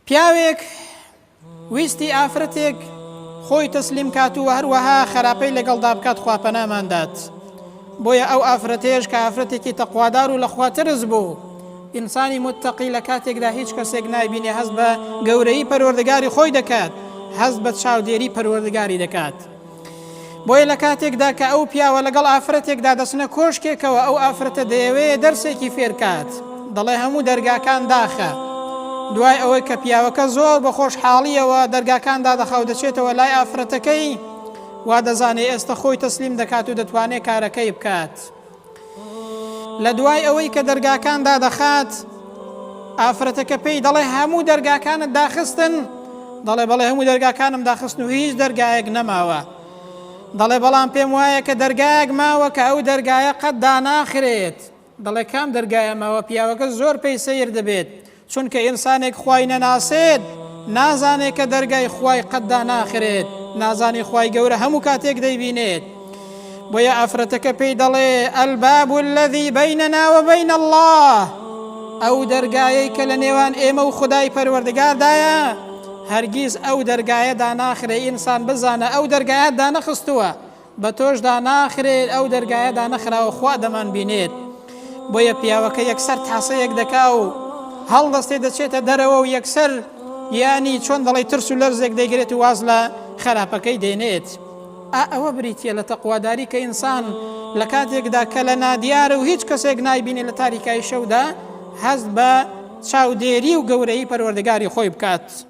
پیاوێک ویستی ئافرەتێک خۆی تەسلیم کات و هەروەها خراپەی لەگەڵدا بکات خوا پەنامان دات بۆیە ئەو ئافرەتێش کە ئافرەتێکی تەقوادار و لەخوا ترس بوو ئینسانی متتەقی لە کاتێکدا هیچ کەسێک نایبینێ هەست بە گەورەی پەروەردگاری خۆی دەکات هەست بە چاودێری پەروەردگاری دەکات بۆیە لە کاتێکدا کە ئەو پیاوە لەگەڵ ئافرەتێکدا دەچنە کۆشکێکەوە، ئەو ئافرەتە دەیەوێ دەرسێکی فێرکات، دەڵێ هەموو دەرگاکان داخە. دوای ئەوەی کە پیاوەکە زۆر بە خۆشحاڵییەوە دەرگاکان دادەخا و دەچێتەوە لای ئافرەتەکەی، وا دەزانێ ئێستە خۆی تەسلیم دەکات و دەتوانێ کارەکەی بکات. لە دوای ئەوەی کە دەرگاکان دادەخات ئافرەتەکە پێی دەڵێ هەموو دەرگاکانت داخستن دەڵێ بەڵێ هەموو دەرگاکانم داخستن و هیچ دەرگایەک نەماوە دەڵێ بەڵام پێم وایە کە دەرگایەک ماوە کە ئەو دەرگایە قەت داناخرێت دەڵێ کام دەرگایە ماوە پیاوەکە زۆر پێی سیر دەبێت چونکە ئینسانێک خوای نەناسێت نازانێت کە دەرگای خوای قەت داناخرێت نازانێت خوای گەورە هەموو کاتێک دەیبینێت بۆیە ئافرەتەکە پێی دەڵێ ئەلباب الذي بیننا وبین الله ئەو دەرگایەی کە لە نێوان ئێمە و خدای پەروەردگاردایە هەرگیز ئەو دەرگایە داناخرێ ئینسان بزانە ئەو دەرگایە دانەخستووە بە تۆش دا ناخرێت ئەو دەرگایە دانەخراوە خوا دەمان بینێت بۆیە پیاوەکە یەکسەر تاسەیەک دەکا و هەڵدەستێ دەچێتە دەرەوە و یەکسەر یانی چۆن دەڵی ترس و لەرزێک دەیگرێت و واز لە خراپەکەی دێنێت ئا ئەوە بریتە لە تەقواداری کە ئینسان لە کاتێکدا کە لە نادیارە و هیچ کەسێک نایبینێ لە تاریکای شەودا هەست بە چاودێری و گەورەی پەروەردەگاری خۆی بکات.